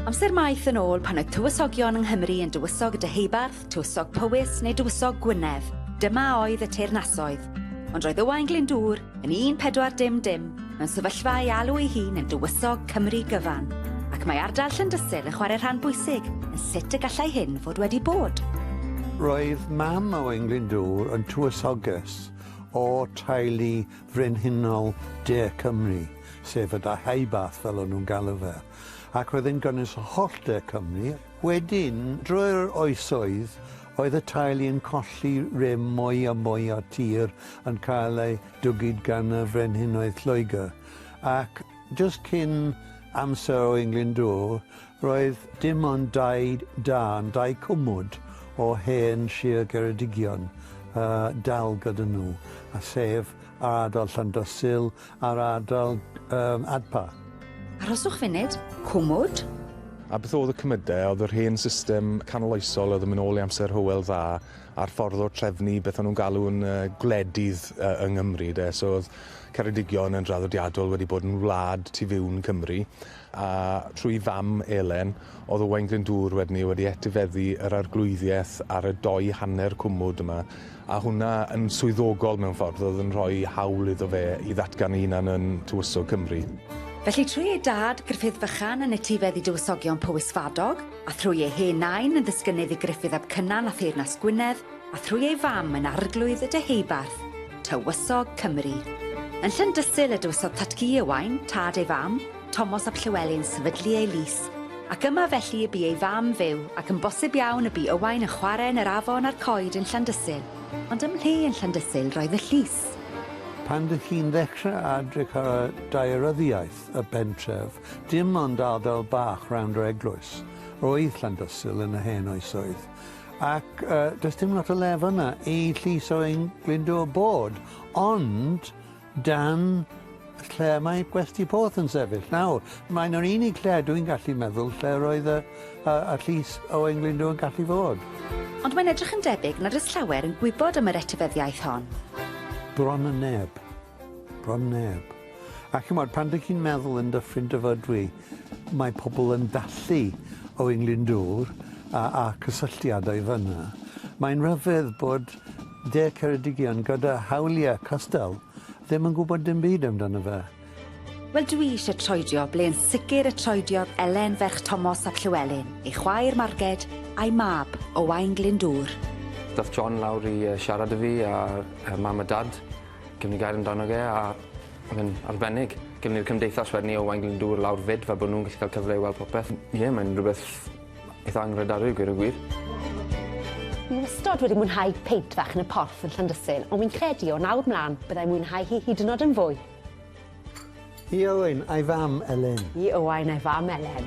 Amser maith yn ôl pan oedd tywysogion yng Nghymru yn Dywysog y Deheubarth, Tywysog Powys neu Dywysog Gwynedd, dyma oedd y teyrnasoedd. Ond roedd Owain Glyndŵr, yn 1400, mewn sefyllfa ei alw ei hun yn Dywysog Cymru gyfan, ac mae ardal Llyndysul yn chwarae rhan bwysig yn sut y gallai hyn fod wedi bod. Roedd mam Owain Glyndŵr yn tywysoges o teulu Frenhinol De Cymru, sef y Da Haibath fel o'n nhw'n galw fe, ac oedd yn gynnwys holl De Cymru. Wedyn, drwy'r oesoedd, oedd y teulu yn colli rym mwy a mwy o'r tir yn cael ei dwgyd gan y frenhinoedd Lloegr, ac jyst cyn amser Owain Glyndŵr, Roedd dim ond dau dân, dau cwmwd o hen Sir Geredigion a dal gyda nhw, a sef ar ardal Llandros Sul a'r ardal um, Adpa. Arhoswch funud, cwmwd? A beth oedd y cymydau? Oedd yr hen system canoloesol, oedd yn mynd ôl i amser Hywel Dda, a'r ffordd o'r trefnu, beth o'n nhw'n galw'n uh, gwledydd uh, yng Nghymru, de. So oedd Ceredigion yn draddodiadol wedi bod yn wlad tu fiwn Cymru, a trwy fam Elen, oedd Owain Glyndŵr wedyn 'ny wedi etifeddu yr arglwyddiaeth ar y dou hanner cwmwd yma, a hwnna yn swyddogol mewn ffordd, oedd yn rhoi hawl iddo fe i ddatgan ei hunan yn Tywysog Cymru. Felly trwy ei dad, Gruffudd Fychan, yn etifeddu Dywysogion Powys Fadog, a thrwy ei hen nain yn ddisgynydd i Gruffudd ap Cynan a theyrnas Gwynedd, a thrwy ei fam yn Arglwydd y Deheubarth, Tywysog Cymru. Yn Llandysul y dywysodd Tatgu Owain, tad ei fam, Tomos ap Llywelyn sefydlu ei lys, ac yma felly y bu ei fam fyw, ac yn bosib iawn y bu Owain yn chwarae yn yr afon a'r coed yn Llandysul, ond ym mhle yn Llandysul roedd y llys? Pan dych chi'n ddechrau adrych ar y daearyddiaeth y pentref, dim ond ardal bach rownd yr eglwys roedd Llandysul yn yr hen oesoedd. Ac yy does dim lot o le fyn 'na i llys o ein Glyndŵr bod ond dan lle mae Gwesty Porth yn sefyll nawr mae'n yr unig lle dwi'n gallu meddwl lle roedd y yy y llys Owain Glyndwr yn gallu fod. Ond mae'n edrych yn debyg nad oes llawer yn gwybod am yr etifeddiaeth hon. Bron yn neb. Bron neb. A chimod, pan dych chi'n meddwl yn Dyffryn Dyfrdwy, mae pobl yn dallu o'u nglyndŵr a, a cysylltiadau fan'na. Mae'n rhyfedd bod De Ceredigion gyda hawliau cystal ddim yn gwybod dim byd amdano fe. Wel dwi eisiau troedio ble yn sicr y troediodd Elen ferch Tomos ap Llywelyn, ei chwaer Marged, a'i mab, Owain Glyndŵr. Ddaeth John lawr i siarad 'da fi a mam a dad. Gewn ni gair amdano fe a ma' fe'n arbennig. Gewn ni'r cymdeithas wedyn 'ny o Waun Glyndŵr lawr 'fyd fel bo' nw'n gallu ca'l cyfle i weld popeth. M- ie mae'n rwbeth eitha anghredadwy i gweud y gwir. Fi wastod wedi mwynhau peint fach yn y porth yn Llandysyn ond fi'n credu o nawr mlan byddai'n mwynhau hi hyd yn o'd yn fwy. I Owain a'i fam Elen. I Owain a'i fam Elen.